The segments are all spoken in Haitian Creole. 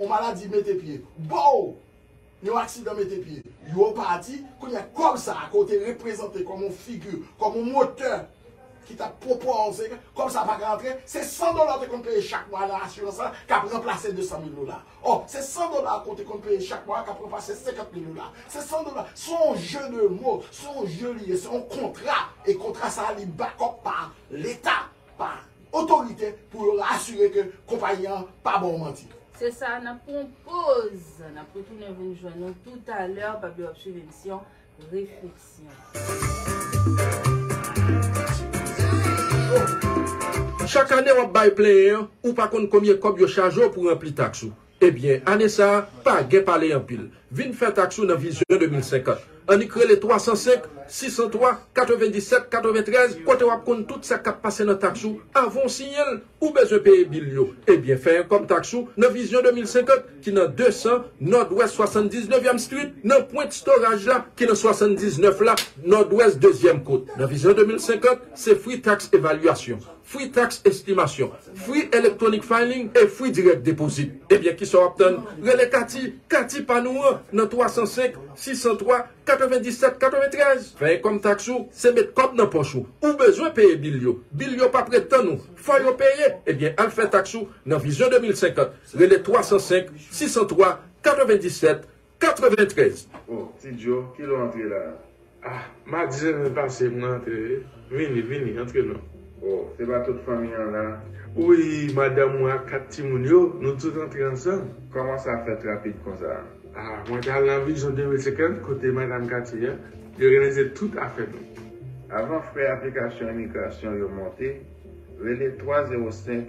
On maladi mete pye boo! Yon aksidan mete pye yo pati, kounye a kòb sa a ke w te reprezante kòm on figi, kòm on motè ki t ap pwopoze, kòb sa a pa ka antre, se 100 dola w te konn peye chak mwa nan asirans la k ap ranplase 200 mil dola ò, se 100 dola ke w te konn peye chak mwa k ap ranplase 50 mil dola, se 100 dola, se on jeu de mots, se on jeu li ye, se on kontra e kontra sa a li back up pa Leta. pa otorite pou yo asire ke konpayi an pa ba w manti. Se sa, n ap pran yon poz, n ap retounen vin jwenn ou toutalè, pa bliye w ap swiv emisyon Refleksyon. Chak ane w ap bay plenyen an, ou pa konn konbyen kòb yo chaje w pou ranpli taks ou. Ebyen ane sa pa gen pale anpil vin fè taks ou nan vizyon 2050 annik rele 305 603 97 93 kote wap konn tout sa kap pase nan taks ou avan w siyen l ou bezwen peye bil yo ebyen fè enkom taks ou nan vizyon 2050 ki nan 200 nòdwès 79 yèm street nan pwent storaj la ki nan 79 la nòdwès dezyèm kot nan vizyon 2050 se fri taks evalyasyon. Free Tax Estimasyon, Free Electronic Filing e Free Direct Deposit. Ebyen kisa w ap tann? Rele Katy, Katy pa nou an, nan 305 603 97 93. Fè enkòm taks ou, se met kòb nan pòch ou. Ou bezwen peye bil yo. Bil yo p ap ret tann ou. Fò yo peye! Ebyen al fè taks ou nan Vision 2050. Rele 305 603 97 93. Oh ti djo kilè w antre la ah. Madi semen pase mwen antre wi. Vini vini antre non. Oh se pa tout fanmi an la. Wi madanm mwen ak 4 timoun yo nou tout antre ansanm. Kòman sa fèt rapid konsa. Ah mwen te al nan Vision 2050 kote madam katye a yo reyalize tout afè nou. Avan frè aplikasyon imigrasyon yo monte rele 305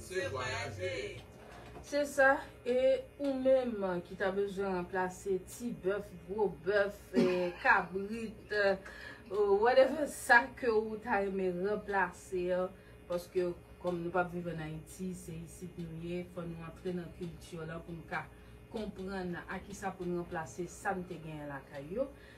Se vwayaje! Se sa, e ou menm ki ta bezwen ranplase ti bèf, gwo bèf, kabrit, whatever sa ke ou ta renmen ranplase an, paske kòm nou pap viv an Ayiti, se isit nou ye, fò nou antre nan kilti yo la pou nou ka konprann a kisa pou nou ranplase sa nou te genyen lakay yo.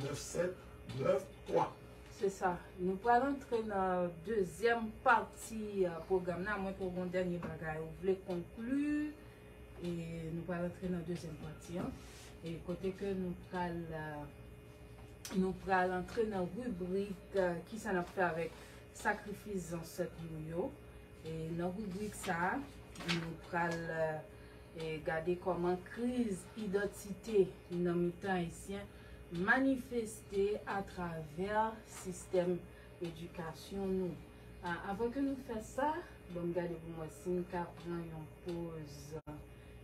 9 7 9 3. Se sa, nou pral antre nan dezyèm pati pwogram nan, a mwen ke w gen yon dènye bagay ou vle konkli, e nou pral antre nan dezyèm pati an, e kote ke nou pral, nou pral antre nan ribrik kisa n ap fè avèk sakrifis zansèt nou yo, e nan ribrik sa a, nou pral. E gade kòman kriz idantite nan mitan Ayisyen manifeste atravè sistèm edikasyon nou. Avan ke nou fè sa, banm gade pou m wè si m ka pran yon poz.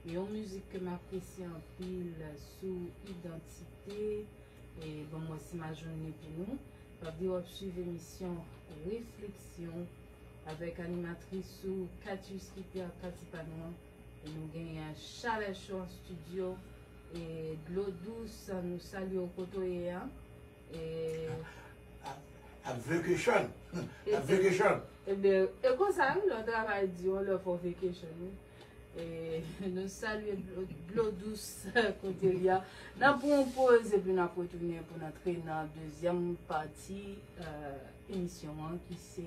Gen yon mizik ke m apresye anpil sou idantite. E banm wè si m a jwenn li pou nou. M ap di w ap swiv emisyon Refleksyon avèk animatris ou Katius Lipyard Pati Pa Nou an. E nou genyen chalè cho an studio e dlo dous nou salye w kote w ye a e. Ap vacation ap vacation. Ebyen e konsa wi lè w travay di yon lè fè w vacation wi e nou salye dlo dous kote l ye a nap pran yon poz epi nap retounen pou n antre nan dezyèm pati emisyon an ki se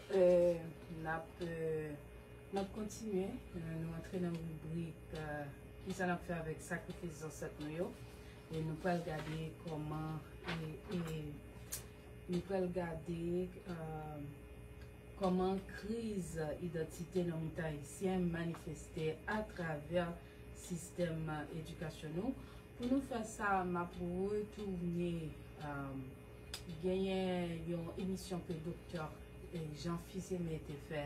Nap kontinye, nou antre nan ribrik kisa nap fè avèk sakrifis zansèt nou yo e nou pral gade kòman nou pral gade kòman kriz idantite nan mitan ayisyen manifeste atravè sistèm edikasyon nou. Pou nou fè sa map retounen Genyen yon emisyon ke Doktè Jean Fils Aimé te fè,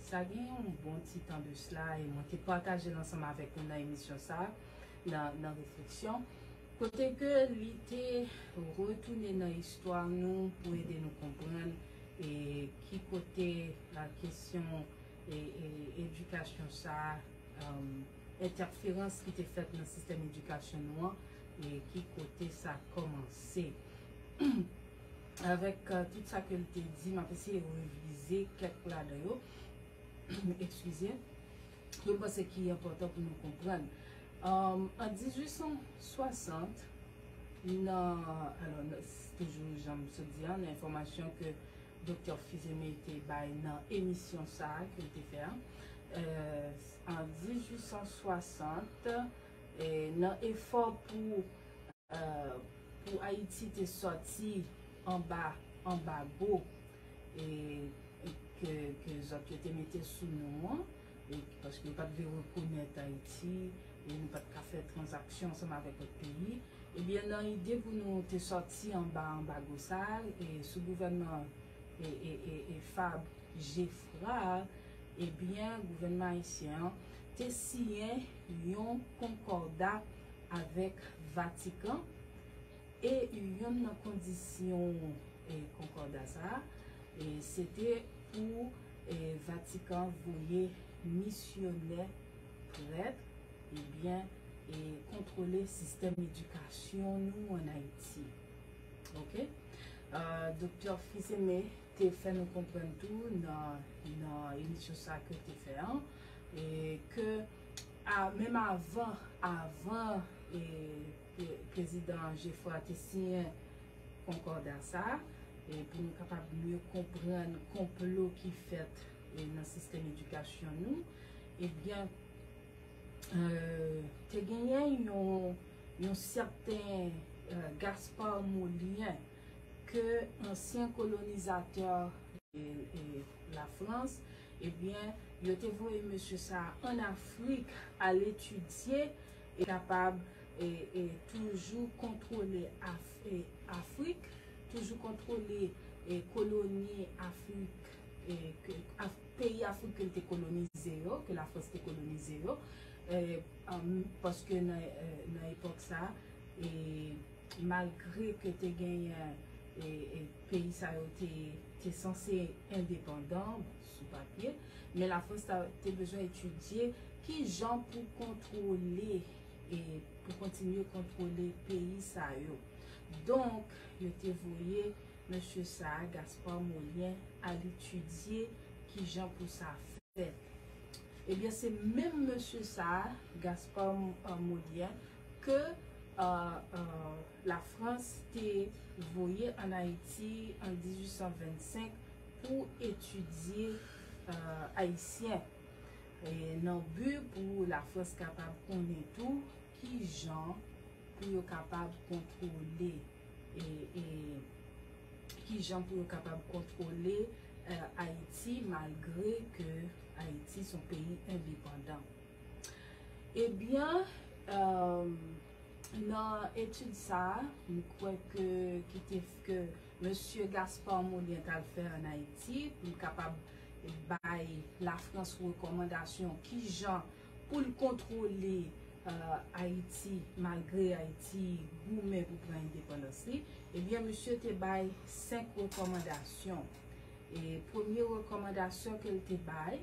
sa gen yon bon ti tan de sla e mwen te pataje l ansanm avèk nou nan emisyon sa a, nan Refleksyon, kote ke li te retounen nan istwa nou pou ede nou konprann e ki kote kesyon edikasyon sa a. Entèferans ki te fèt nan sistèm edikasyon nou an e ki kote sa kòmanse. Avèk tout sa ke l te di, m ap eseye revize kèk ladan yo, ekskize, ke m panse ki enpòtan pou nou konprann. An 1860, nan, alò, toujou jan m sot di an, nan enfòmasyon ke Doktè Fils-Aimé te bay nan emisyon sa a ke l te fè a, an 1860 nan efò pou pou Ayiti te sòti anba anbago e ke ke zòt yo te mete sou nou an e paske yo pa t vle rekonèt Ayiti e nou pa t ka fè tranzaksyon ansanm avèk lòt peyi e byen nan ide pou nou te sòti anba anbago sa a e sou gouvènman e e e Fabre Geffrard Ebyen, gouvènman ayisyen an te siyen yon konkòda avèk Vatikan e youn nan kondisyon konkòda sa a se te pou Vatikan voye misyonè, prèt, ebyen kontwole sistèm edikasyon nou an Ayiti. Ok. Doktè Fils-Aimé. te fè nou konprann tou nan emisyon sa ke l te fè an, ke menm avan avan prezidan Geffrard te siyen konkòda sa a, pou nou kapab mye konprann konplo ki fèt nan sistèm edikasyon nou, ebyen te genyen yon sèten Gaspard Molien, ke ansyen kolonizatè la Frans ebyen yo te voye mesye sa an Afrik al etidye e kapab e toujou kontwole Afrik toujou kontwole koloni Afrik peyi Afrik ke l te kolonize yo ke la Frans te kolonize yo paske nan epòk sa e Malgre ke te genyen peyi sa yo te sanse endepandan sou papye, men Lafrans te bezwen etidye ki jan pou kontwole e pou kontinye kontwole peyi sa yo. Donk, yo te voye mesye sa a, Gaspard Mollien, al etidye ki jan pou sa fèt. Ebyen, se menm mesye sa a, Gaspard Mollien, ke la Frans te voye an Ayiti an 1825 pou etidye Ayisyen, nan bi pou la Frans kapab konnen tou ki jan pou yo kapab kontwole, ki jan pou yo kapab kontwole Ayiti malgre ke Ayiti son peyi endepandan. Ebyen, nan etid sa a, m kwè ke ki te ke Mesye Gaspard Mollien t al fè ann Ayiti pou l kapab bay Lafrans rekòmandasyon ki jan pou l kontwole Ayiti malgre Ayiti goumen pou pran endepandans li, ebyen misye te bay senk rekòmandasyon. E premye rekòmandasyon ke l te bay,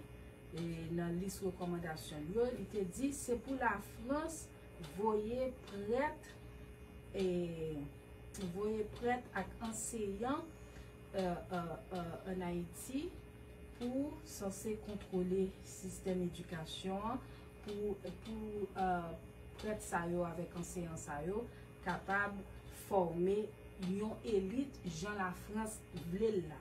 Nan lis rekòmandasyon l yo, li te di se pou Lafrans voye prèt, voye prèt ak anseyan ann Ayiti pou sanse kontwole sistèm edikasyon an, pou prèt sa yo avèk anseyan sa yo kapab fòme yon elit jan Lafrans vle l la.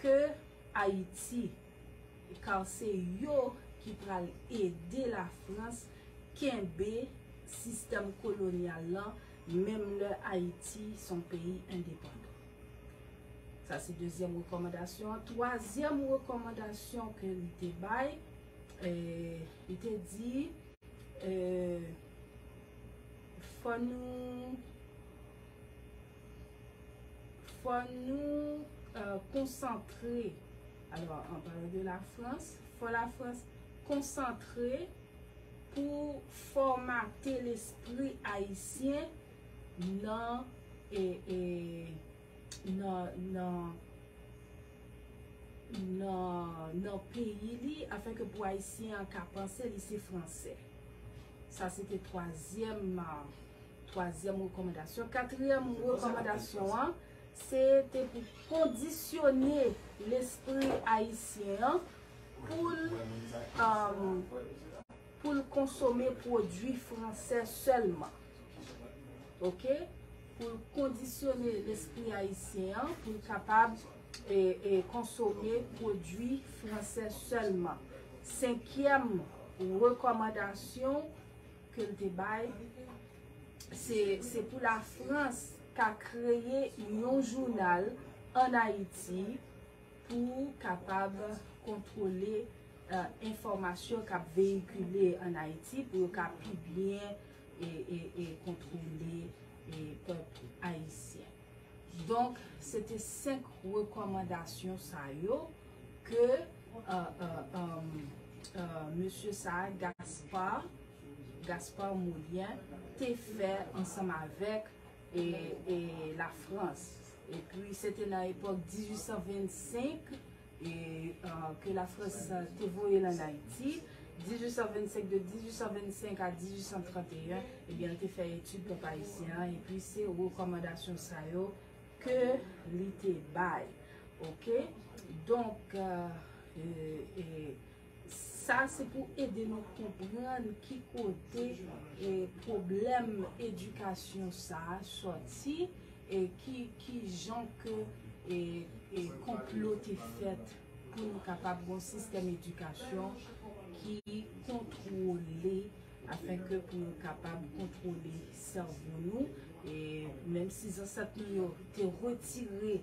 Ke Ayiti kar se yo ki pral ede la Frans kenbe sistèm kolonyal lan menm lè Ayiti son peyi endepandan. Sa se dezyèm rekòmandasyon an. Twazyèm rekòmandasyon ke li te bay, li te di fò nou. Fò nou konsantre, alò an palan de la Frans, fò la Frans konsantre pou fòmate lespri ayisyen nan nan peyi li afin ke pou ayisyen an ka panse li se fransè. Sa se te twazyèm Twazyèm rekòmandasyon. Katriyèm rekòmandasyon an se te pou kondisyone lespri ayisyen an pou l konsome pwodui fransè sèlman. Ok? Pou l kondisyone lespri ayisyen an pou l kapab konsome pwodui fransè sèlman. Senkyèm rekòmandasyon. ke l te bay, se pou la Frans ka kreye yon jounal an Ayiti pou kapab kontwole enfòmasyon k ap veyikile an Ayiti pou yo ka pi byen kontwole pèp ayisyen. Donk se te 5 rekòmandasyon sa yo. Ke mesye sa a Gaspard, Gaspard Moulien te fè ansanm avèk la Frans. E pi se te nan epòk 1825 ke la Frans te voye l an Ayiti. 1825, de 1825 a 1831, ebyen l te fè etid pèp ayisyen an. E pi se rekòmandasyon sa yo. Ke li te bay. Ok. Donk. Sa se pou ede nou konprann ki kote e pwoblèm edikasyon sa a soti. E ki jan ke e konplo te fèt pou nou kapab gon sistèm edikasyon ki kontwole. afenke pou nou kapab kontwole sèvo nou, e menm si zansèt nou yo te retire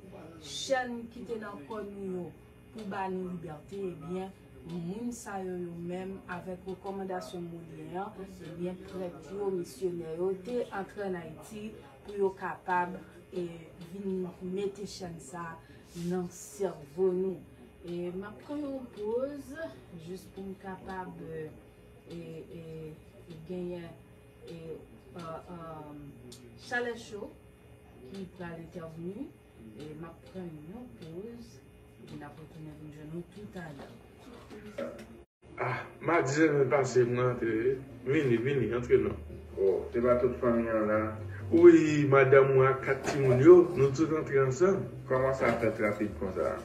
chèn ki te nan kò nou yo pou ba nou libète, ebyen moun sa yo yo menm avèk rekòmandasyon Molyen an, ebyen prèt yo, misyonè yo te antre an Ayiti pou yo kapab vin mete chèn sa nan sèvo nou. E m ap pran yon poz jis pou m kapab. e genyen e chalè cho ki pral entèvni e map pran yon poz epi nap retounen vin jwenn nou tou talè. Ah madi sèmen pase mwen antre wi vini vini antre non. Oh se pa tout fanmi an la. Wi madanm mwen ak 4 timoun yo nou tout antre ansanm. Kòman sa fèt rapid konsa.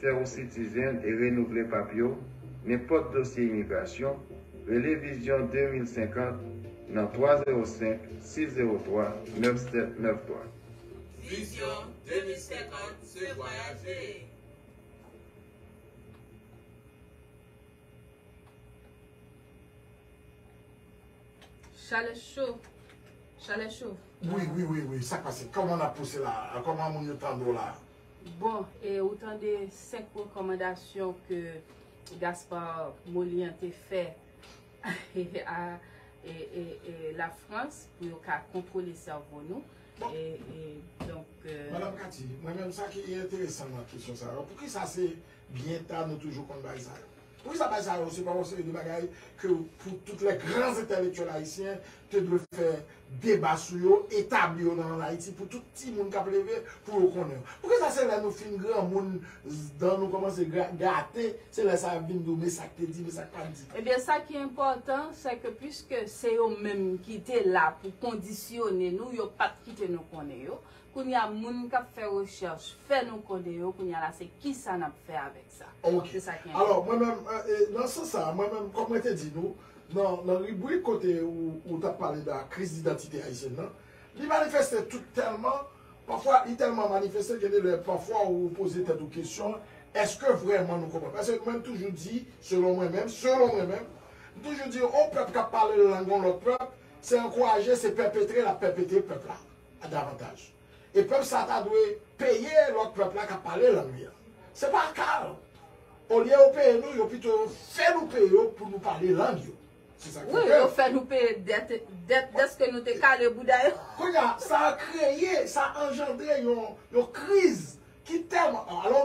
Fè ou sitizen e renouvle papye w, nenpòt dosye imigrasyon, rele Vizyon 2050 nan 305 603 9793. Vizyon 2050 se vwayaj veye! Chalè cho! Chalè cho! Wi wi wi wi sak pase koman nap pouse la koman moun yo tande w la. Bon, e ou tande 5 rekòmandasyon ke Gaspard Molian te fè a la Frans pou yo ka kontwole sèvo nou. Madame Cathy, mwen menm sa ki enteresan nan kesyon sa yo, poukisa se Byen ta nou toujou konn bay sa yo. Pou kisa bay sa yo se pa yon seri de bagay ke pou tout les grands intellectuels haïtiens te dwe fè deba sou yo, etabli yo nan Ayiti pou tout timoun kap leve pou yo konnen yo. Pou kisa se lè nou fin granmoun dan nou komanse gate se lè sa yap vin di w me sak te di me sak pat di. Ebyen sa ki enpòtan se ke puiske se yo menm ki te la pou kondisyone nou yo pat kite nou konnen yo Kounya moun kap fè rechèch fè nou kode yo kounya la se kisa nap fè avèk sa? Ok. Se sa ki enpòtan. Alò mwen menm nan sans sa mwen menm kòm mwen te di nou nan nan ribrik kote ou ou tap pale da kriz didantite ayisyèn nan li manifeste tout tèlman pafwa li tèlman manifeste gen de lè pafwa ou poze tèt ou kesyon èske vrèman nou konprann paske mwen toujou di selon mwen menm selon mwen menm m toujou di on pèp kap pale lang on lòt pèp se ankouraje se pèpetre lap pèpetre pèp la a davantaj. E pèp sa a ta dwe peye lòt pèp la k ap pale lang li a. Se pa ka l. Olye yo peye nou, yo pito yo fè nou peye yo pou nou pale lang yo. Se sa k fè ke. Wi, yo fè nou peye dèt, dèt dèske nou te kale bouda yo. Kounye a, sa kreye, sa anjandre yon, yon kriz ki tèlman. Alò,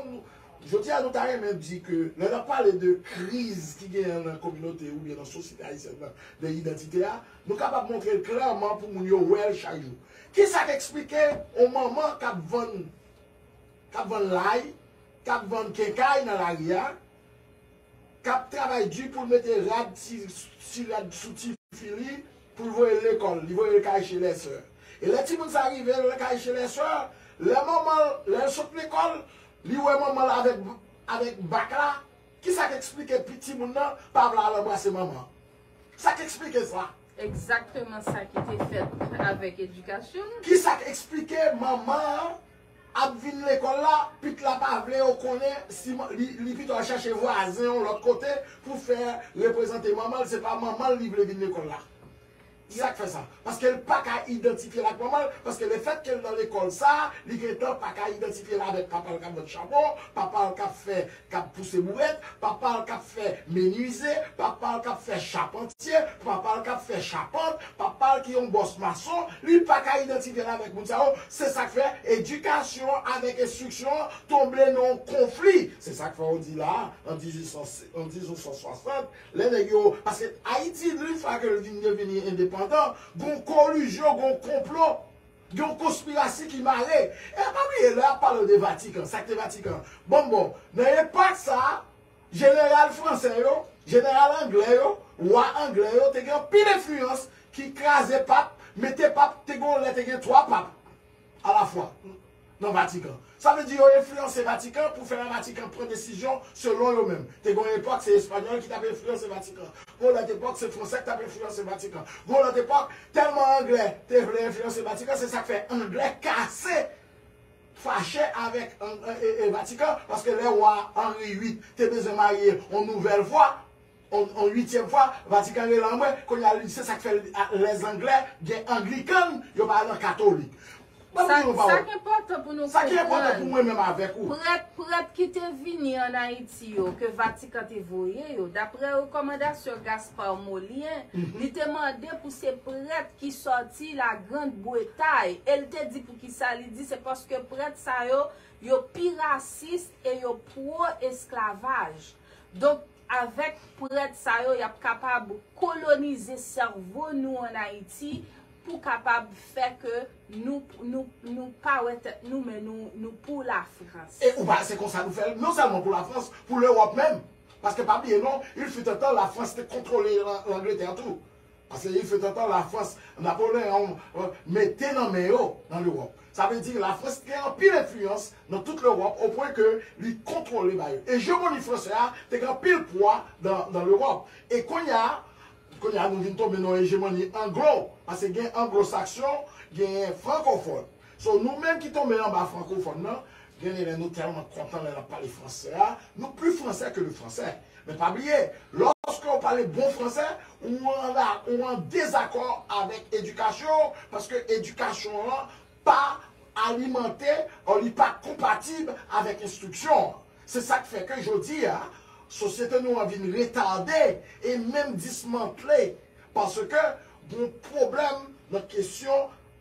jodi a nou ta renmen di ke lè n ap pale de kriz ki genyen nan kominote oubyen nan sosyete ayisyèn nan, de idantite a, Nou kapab montre l klèman pou moun yo wè l chak jou. Ki sa k esplike yon manman k ap vann k ap vann lay, k ap vann kenkay nan lari a, k ap travay di pou l mete rad ti ti rad sou tifi li pou l voye l lekòl, li voye l kay chelèsè. E lè timoun sa a rive l kay chelèsè, lè manman l lè l sot lekòl, li wè manman l avèk avèk bak la, ki sa k esplike pi timoun nan pa vle al anbrase manman an? Sa k esplike sa? Egzakteman sa ki te fèt avèk edikasyon nou. Ki sa k esplike manman an ap vin lekòl la, pit la pa vle yo konnen si li pito al chache vwazen yon lòt kote pou fè reprezante manman l, se pa manman l li vle vin lekòl la. Sa k fè sa? Paske l pa ka idantifye l ak manman l, paske lefètke l nan lekòl sa a, li gentan pa ka idantifye l avèk papa l k ap vann chabon, papa l k ap fè kap pouse bourèt, papa l kap fè menwize, papa l kap fè chapantye, papa l kap fè chapant, papa l ki yon bòs mason, li pa ka idantifye l avèk moun sa yo, se sak fè edikasyon avèk enstriksyon an tonbe nan yon konfli, se sak fè ou di la a an 1860 lè nèg yo, paske Ayiti dri fwa ke l vin devini endepandan, gon kolizyon, gon konplo. Gen yon konspirasi ki mare. E pa bliye lè yap palew de vatikan, sak te vatikan. Bon bon, nan epak sa, jeneral fransè yo, jeneral anglè yo, wa anglè yo te gen anpil enfliyans ki kraze pap, mete pap, te gen yon lè te gen 3 pap a la fwa. nan Vatikan. Sa vle di yo enfliyanse Vatikan pou fè la Vatikan pran desizyon selon yo menm. Te gen yon epòk se Espanyòl ki t ap enfliyanse Vatikan. Gen yon lòt epòk se Fransè ki t ap enfliyanse Vatikan. Gen yon lòt epòk, tèlman Anglè te vle enfliyanse Vatikan, se sa k fè Anglè kase, fache avèk Vatikan, paske lè wa Henry 8 te bezwen marye yon nouvèl vwa, On uityèm fwa, Vatikan rele anmwe, kounye a li se sa k fè lè angle gen anglikan, yo pa nan katolik. Ban m di w yon pawòl. Sa ki enpòtan pou nou konprann, prèt prèt ki te vini ann Ayiti yo, ke Vatikan te voye yo, daprè rekòmandasyon Gaspard Molien, li te mande pou se prèt ki sòti La Grande Bretay. E l te di poukisa, li di se paske prèt sa yo, yo pi rasis e yo pwo esklavaj. Donk, Avèk prèt sa yo, y ap kapab kolonize sèvo nou an Ayiti pou kapab fè ke nou nou pa wè tèt nou men nou nou pou Lafrans. E ou pa wè se konsa nou fè l non sèlman pou Lafrans, pou Lewòp menm. Paske pa bliye non, il fut un temps Lafrans te kontwole Langletè tou. Pase yon fèt antan Lafrans, Napoleon, mete nan men yo nan Lewòp. Sa vle di Lafrans gen anpil enfliyans nan tout Lewòp o pwen ke li kontwole ba yo. Ejemoni fransè a te gen anpil pwa nan Lewòp. E konnya, konnya nou vin tonbe nan yon ejemoni anglo, pase gen anglo-saksyon, genyen frankofòn. So nou menm ki tonbe anba frankofòn nan, genlè nou tèlman kontan lè n ap pale fransè a, nou pi fransè ke le fransè. Men pa bliye, lòske ou pale bon fransè, ou an dezakò avèk edikasyon ou, paske edikasyon an pa alimante o li pa konpatib avèk enstriksyon an. Se sa k fè ke jodi a, sosyete nou an vin retade e menm dismantle paske gen yon pwoblèm nan kesyon.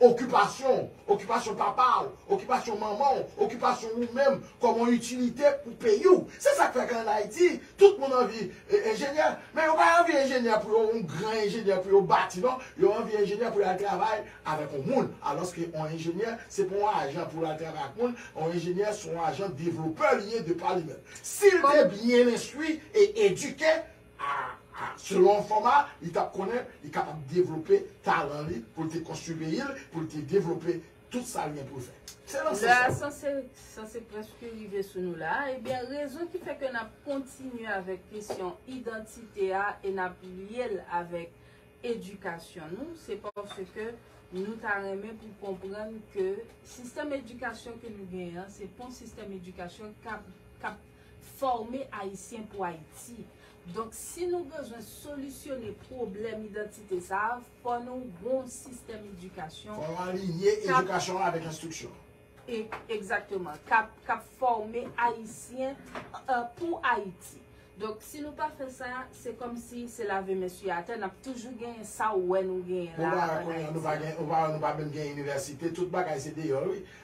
Okipasyon w, okipasyon papa w, okipasyon manman w, okipasyon ou menm kòm yon itilite pou peyi w. Se sa k fè k'an Ayiti, tout moun anvi enjenyè. Men yo pa anvi enjenyè pou yo yon gran enjenyè pou yo bati non. Yo anvi enjenyè pou y al travay avèk yon moun. Alòske yon enjenyè se pa yon ajan pou l al travay ak moun. Yon enjenyè se yon ajan devlopè li ye de pa li menm. Si l te byen enstwi e edike, a a selon enfoma li tap konnen li kapab devlope talan li poul te konstwi peyi l poul te devlope tout sa li gen poul fè se nan sans sa. Lè a sanse prèske rive sou nou la a ebyen rezon ki fè ke nap kontinye avèk kesyon idantite a e nap lye l avèk edikasyon nou se paske nou ta renmen pou konprann ke sistèm edikasyon ke nou gen an se pon sistèm edikasyon kap Fòme Ayisyen pou Ayiti. Donk, si nou bezwen solisyone pwoblèm idantite sa a, fò nou gen yon sistèm edikasyon. Fò nou alinye edikasyon an avèk enstriksyon. Egzakteman. K ap fòme Ayisyen pou Ayiti. Donk, si nou pa fè sa, se kòmsi se lave men sou atè, n ap toujou genyen sa ou wè nou genyen la a ann Ayiti. Ou pa wè nou pa menm gen inivèsite, tout bagay se deyò wi.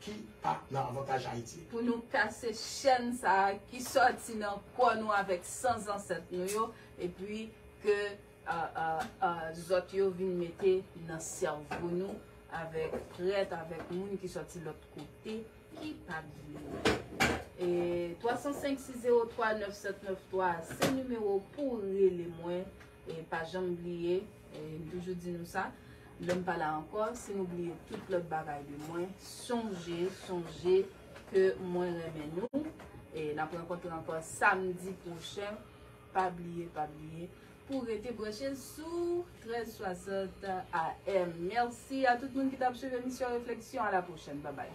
ki pa nan avantaj Ayiti. Pou nou kase chèn sa a ki sòti nan kò nou avèk san zansèt nou yo epi ke zòt yo vin mete nan sèvo nou avèk prèt, avèk moun ki sòti lòt kote ki pa t vle. 305 603 9793 a se nimewo pou w rele mwen. E pa janm bliye, m toujou di nou sa, lè m pa la ankò, si nou bliye tout lòt bagay de mwen, sonje, sonje ke mwen renmen nou. E n ap rankontre ankò samdi pwochen, pa bliye, pa bliye pou w rete branche sou 1360 AM. Mèsi a tout moun ki t ap swiv emisyon Refleksyon, a la pwochèn, babay.